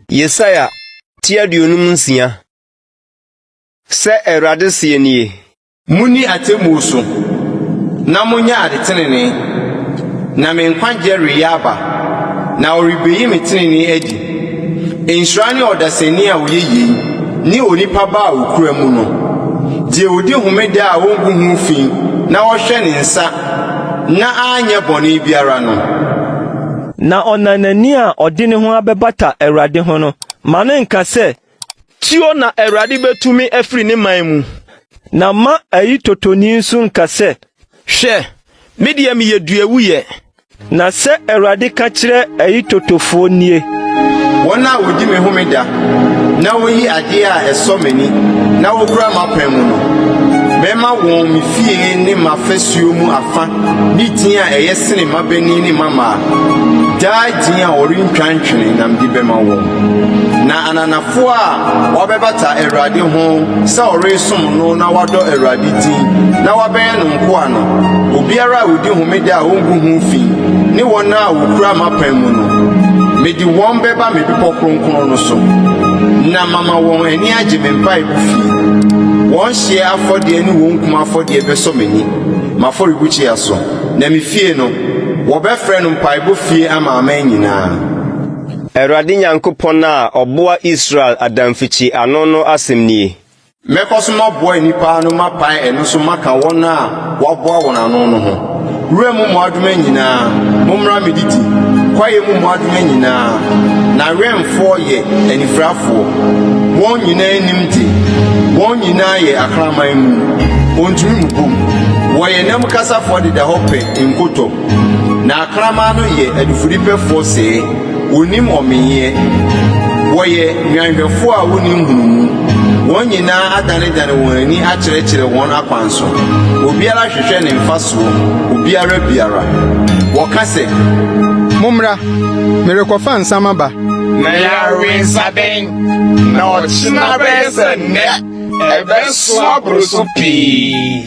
Yesaia ti aduonum nsia. Sɛ Awurade seɛ nie. Monni atemmuo so, na monyɛ adetenenee, na me nkwagyeɛ reyɛ aba, na wɔrebeyi me tenenee adi. Nhyira ne ɔdasani a ɔyɛ yei, ne onipa ba a ɔkura mu no, deɛ ɔdi homeda a ɔngu ho fi na ɔhwɛ ne nsa na anyɛ bɔne biara no. Na ɔnanani a ɔde ne ho abɛbata Awurade ho no, ma no nka sɛ, Tio na Awurade bɛtu me afiri ne man mu. Na mma ayitotoni nso nka sɛ. Hwɛ, me deɛ meyɛ duawuiɛ. Na sɛ Awurade ka kyerɛ ayitotofoɔ nie. Wɔn a wɔdi me homeda na woyi adeɛ a ɛsɔ m'ani na wokura m'apam mu no, mɛma wɔn me fie ne m'afasuo mu afa ne din a ɛyɛ sene mmabanin ne mmammaa. Daa din a wɔrentwa ntwene na mede bɛma wɔn. Na ananafoɔ a wɔabɛbata Awurade ho sɛ wɔresom no na wɔadɔ Awurade din na wɔabɛyɛ no nkoa no, obiara a ɔdi homeda a ɔngu ho fi ne wɔn a wɔkura m'apam mu no, mede wɔn bɛba me bepɔ kronkron no so, na mama wɔn ani agye me mpaebɔ fie. Wɔn hyeɛ afɔdeɛ ne wɔn kum afɔdeɛ bɛsɔ m'ani m'afɔrebukyia so, na me fie no, wɔbɛfrɛ no mpaebɔ fie ama aman nyinaa. Awurade Nyankopɔn a ɔboa Israel adamfikyi ano no asɛm nie. Mɛkɔ so maboa nnipa ano mapae ɛno so maka wɔn a wɔaboa wɔn ano no ho. Wuram mmoadoma nyinaa, mommra mmedidi, kwaeɛ mu mmoadoma nyinaa, n'awɛmfoɔ yɛ anifirafoɔ, wɔn nyinaa nim de, wɔn nyinaa yɛ akraman mu, wɔntumi mmobom, wɔyɛ nnam kasafoɔ deda hɔ pɛ nkotɔ. Na akraman no yɛ adufudepɛfoɔ sɛɛ, wɔnnim ɔmenyɛ, wɔyɛ nnwanhwɛfoɔ a wɔnni nhunumu, wɔn nyinaa adanedane wɔn ani akyerɛkyerɛ wɔn akwan so, obiara hwehwɛ ne mfasoɔ, obiara biara. Wɔka sɛ. Mommra, merekɔfa nsã maba. Na yɛawe nsã dɛn? Na ɔkyena bɛyɛ sɛ nnɛ, ɛbɛsoa boro so pii.